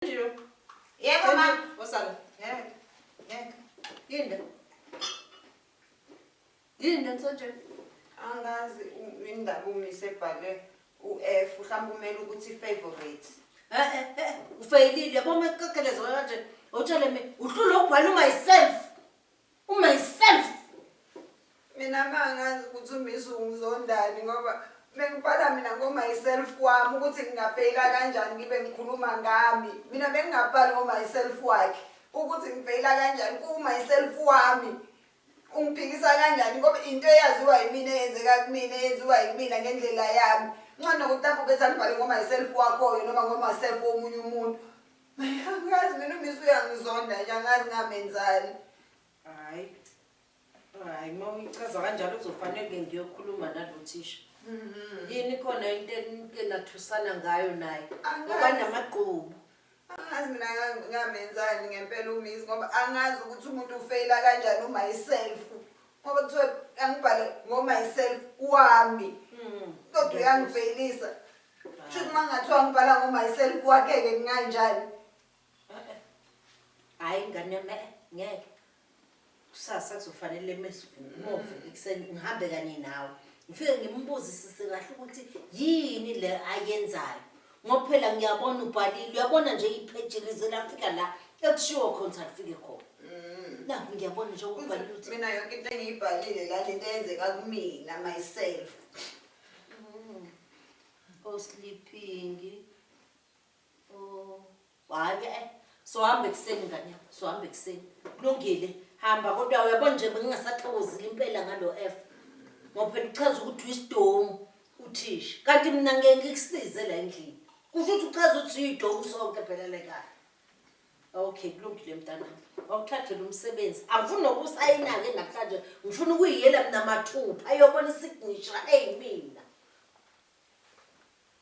Yebo ma. Osala. Ngeke. Ngeke. Linda. Linda msanje. Angazi indaba umise ebhale u-F mhlawumbe umele ukuthi favorite. Eh eh eh ufeyilile yabo mekukekelezo kanje. Utshele mina uhlule ubhala myself. umyself mina mangazi ukuthi umisu ungizondani ngoba bengibhala mina ngomyself wami ukuthi ngingafeyila kanjani ngibe ngikhuluma ngami mina bengingabhali ngomyself wakhe ukuthi ngifeyila kanjani kuwumyself wami ungiphikisa kanjani ngoba into eyaziwa yimina eyenzeka kumina eyenziwa yimina ngendlela yami ncono ukuthi lapho bethi angibhale ngomyself wakhoyo noma ngomyself womunye umuntu Angazi mina umisi uyangizonda nje angazi ngamenzani. Hayi. Hayi uma uyichaza kanjalo kuzofanele ke ngiyokhuluma nalo thisha. Mhm. Yini khona into enike nathusana ngayo naye. Angazi. Ngoba namagqubu. Angazi mina nga- ngamenzani ngempela umisi ngoba angazi ukuthi umuntu ufeyila kanjani umyself. Ngoba kuthiwa angibhale ngomyself wami. Mm. Kodwa uyangifeyilisa. Shuthi uma ngathiwa ngibhala ngoMyself kwakheke kunganjani? Hayi ngane yami eh, ngeke. Kusasa kuzofanele mesivuke ekuseni ngihambe kanye nawe. Ngifike ngimbuzisise kahle ukuthi yini le ayenzayo. Ngoba phela ngiyabona ubhalile, uyabona nje ipheji lize lafika la ekushiwo khona ukuthi alifike khona. Nakho ngiyabona nje ubhalile ukuthi Mina yonke into engiyibhalile la lento eyenzeka kumina myself. o sleeping o hayi eh sohamba ekuseni ngane yakho sohamba ekuseni kulungile hamba kodwa uyabo nje bengingasathokozile impela ngalo f ngoba phela uchaza ukuthi uyisidomu uthisha kanti mina ngeke ngikusize la endlini kusho ukuthi uchaza ukuthi uyidomu sonke phela lekaya Okay, kulungile mntanami. Wawuthathela umsebenzi. Angifuni nokusayina-ke namhlanje. Ngifuna ukuyiyela mina mathupha ayobona isignisha eyi mina.